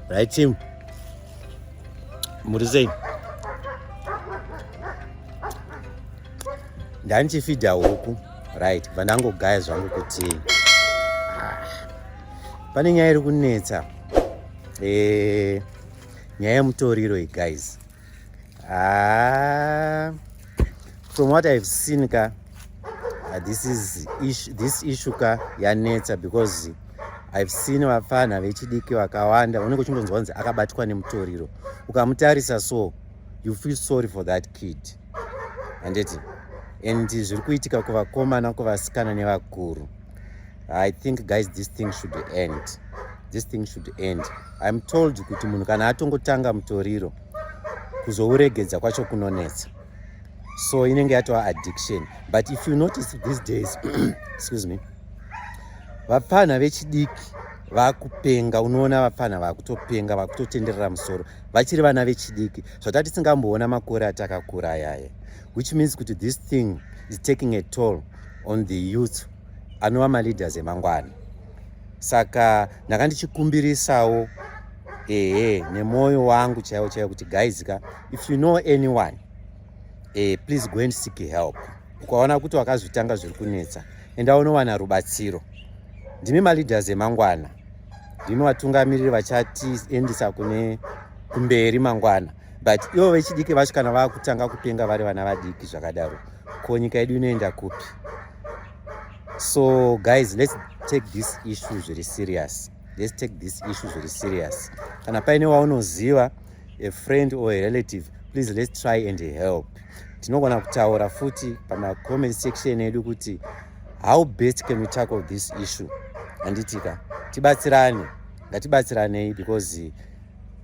Right team. Muri sei? Ndandichifidha huku. Right, bva ndangogaya zvangu kuti ah, pane nyaya iri kunetsa. Eh, nyaya yemutoriro iyi guys. ah, from what i've seen ka uh, this is ish, this issue ka yanetsa because i've seen vapfanha vechidiki vakawanda unenge uchingonzwa kunzi akabatwa nemutoriro ukamutarisa so you feel sorry for that kid handiti and zviri kuitika kuvakomana kuvasikana nevakuru I think guys this thing should end. This thing should end. I'm told kuti munhu kana atongotanga mutoriro kuzouregedza kwacho kunonetsa. So inenge yatova addiction. But if you notice these days, excuse me, vapfanha vechidiki vakupenga unoona vapfanha vakutopenga vakutotenderera musoro vachiri vana vechidiki zvata tisingamboona makore atakakura ayaye which means kuti this thing is taking a toll on the youth anova maleaders emangwana saka ndanga ndichikumbirisawo ehe nemwoyo wangu chaiwo chaiwo kuti guys ka if you know anyone eh, please go and seek help ukaona kuti wakazvitanga zviri kunetsa enda unowana rubatsiro ndimi maleaders emangwana ndimi vatungamiriri vachatiendisa kune kumberi mangwana but ivo vechidiki vacho kana vakutanga kupenga vari vana vadiki zvakadaro ko nyika yedu inoenda kupi so guys let's take this issue zviri serious let's take this issue zviri serious kana paine waunoziva a friend or a relative please let's try and help tinogona kutaura futi pamacomment section edu kuti how best can we tackle this issue handitika tibatsirane ngatibatsiranei because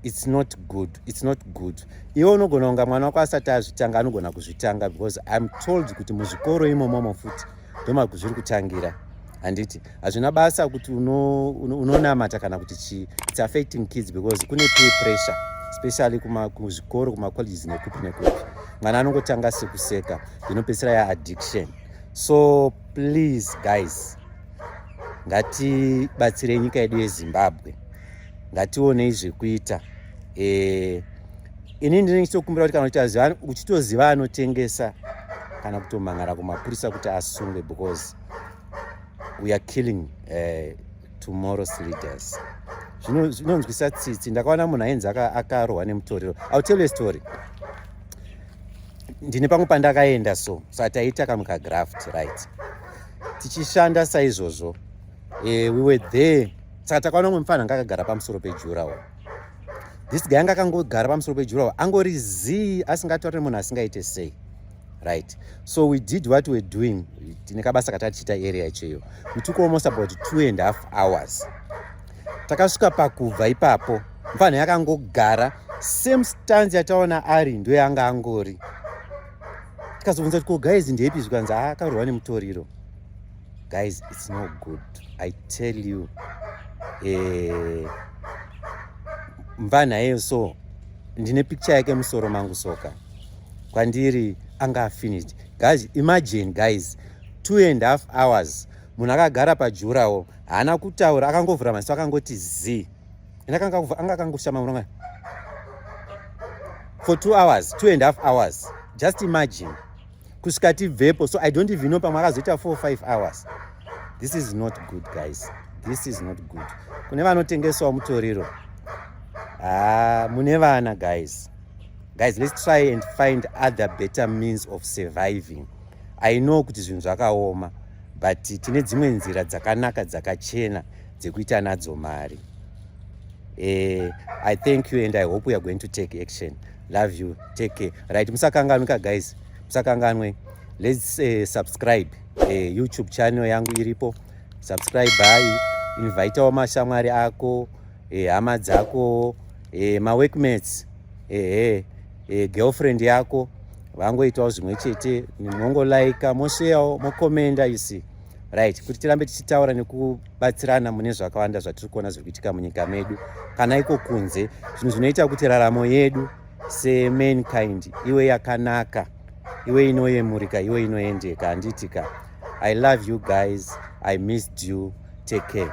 it's not good it's not good iwe unogona kunga mwana wako asati azvitanga anogona kuzvitanga because im told kuti muzvikoro imomomo futi ndomazviri kutangira handiti hazvina basa kuti unonamata kana kuti chii its affecting kids because kune pay pressure especially kuzvikoro kumacolleges nekupi nekupi mwana anongotanga sekuseka inopedzisira yaaddiction so please guys ngatibatsirei nyika yedu yezimbabwe ngationei zvekuita eh, ini ndine ndichitokumbira kuti kana uchiziva uchitoziva anotengesa kana kutomhan'ara kumapurisa kuti asungwe because we are killing uh, tomorrow's leaders zvinonzwisa tsitsi ndakaona munhu ainzi akarohwa nemutoriro ill tell you story ndine pamwe pandakaenda so so taiita kamwe kagraft right tichishanda saizvozvo uh, we were there saka takaona umwe mfana anga akagara pamusoro pejurawo this guy anga akangogara pamusoro pejurawo angori zii asingataure munhu asingaite sei right so we did what we're doing tine kabasa katatichiita area cheyo we took almost about two and half hours takasvika pakubva ipapo mfanha yakangogara same stance yataona ari ndo yanga angori tikazobvunza kuti ko guys ndepi zvikanzi akaurwa nemutoriro guys it's no good i tell you eh, mvana iyeyo so ndine picture yake musoro mangu soka kwandiri anga afinished guys imagine guys two and half hours munhu akagara pajurawo haana kutaura akangovhura maziso akangoti zii anga akangoshama muronga for two hours two and half hours just imagine kusvika tibvepo so i don't even know pamwe akazoita 45 hours this is not good guys this is not good kune vanotengesawo mutoriro haa ah, mune vana guys guys let's try and find other better means of surviving i know kuti zvinhu zvakaoma but tine dzimwe nzira dzakanaka dzakachena dzekuita nadzo mari eh, i thank you and i hope weare going to take action love you take care right musakanganwika guys musakanganwe let's uh, subscribe uh, youtube channel yangu iripo subscribe hayi invitawo mashamwari ako eh, hama uh, dzako uh, maworkmates ehe uh, uh, girlfriend yako vangoitawo zvimwe chete mongolayika mosheyawo mokomenda you see right kuti tirambe tichitaura neku batsirana mune zvakawanda zvatiri kuona zviri kuitika munyika medu kana iko kunze zvinhu zvinoita kuti raramo yedu semankind iwe yakanaka iwe inoyemurika iwe inoendeka handiti ka i love you guys i missed you take care